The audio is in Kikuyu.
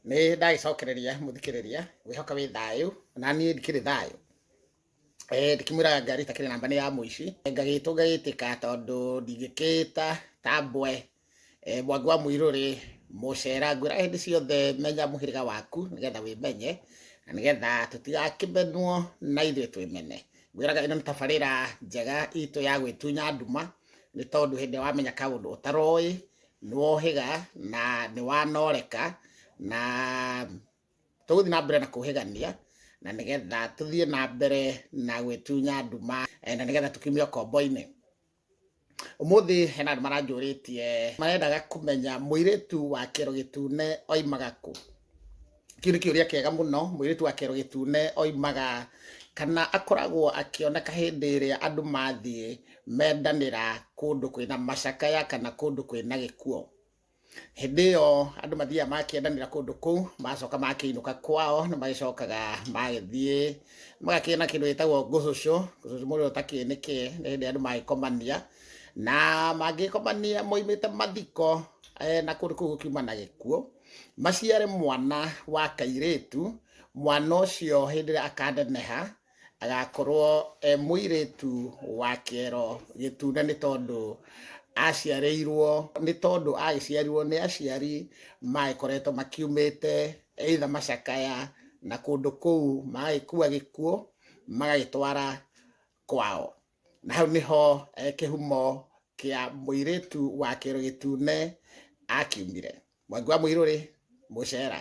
nä ndagäcokereria må thikä rä ria wä hoka wä thayå na niä ndikä rä thayå ndäkä mwä raga ngari takä rä namba nä ya må ici ngagä two ngagä tä ka tondå ndingä kä ta ta mbwe Eh, mwangi wa muiru ri mucera ngwira hindi ciothe menya muhiriga waku nigetha wimenye na nigetha tutigakimenwo na ithuĩ twĩmene ngwiraga ĩno nĩ tabarĩra njega itũ ya gwĩtunya nduma nĩ tondũ hĩndĩ ĩrĩa wamenya kaũndũ ũtaroĩ nĩwohĩga na nĩwanoreka na tũgũthiĩ na mbere na kũhĩgania na nĩgetha tũthiĩ na mbere na gwĩtunya nduma eh, na nĩgetha tũkiumia kombo-inĩ ũmũthĩ hena andũ maranjũrĩtie marendaga kũmenya mũirĩtu wa kĩro gĩtune oimaga kũ kĩu nĩ kĩũria kĩega mũno mũirĩtu wa kĩero gĩtune oimaga kana akoragwo akĩoneka hĩndĩ ĩrĩa andũ mathiĩ mendanĩra kũndũ kwĩna macakaya kana kũndũ kwĩna gĩkuo hĩndĩ ĩyo andũ mathiaga makĩendanĩra kũndũ kũu macoka makĩinũka kwao nĩ magĩcokaga magĩthiĩ magakĩona kĩndũ gĩtagwo ngũcũcũ ngũcũcũ mũndũ ũtakĩĩ nĩkĩ nĩ hĩndĩ andũ magĩkomania na mangĩkomania moimĩte mathiko eh, na kũndũ kũu gũkiuma na gĩkuo maciare mwana wa kairĩtu mwana ũcio hĩndĩ ĩrĩa akaneneha agakorwo e mũirĩtu wa kĩero gĩtune nĩ tondũ aciarĩirwo nĩ tondũ agĩciarirwo nĩ aciari magĩkoretwo makiumĩte eitha macakaya na kũndũ kũu magagĩkua gĩkuũ magagĩtwara kwao na hau nĩho eh, kĩhumo kĩa mũirĩtu wa kĩero gĩtune akiumire mwangi wa mũirũrĩ mũcera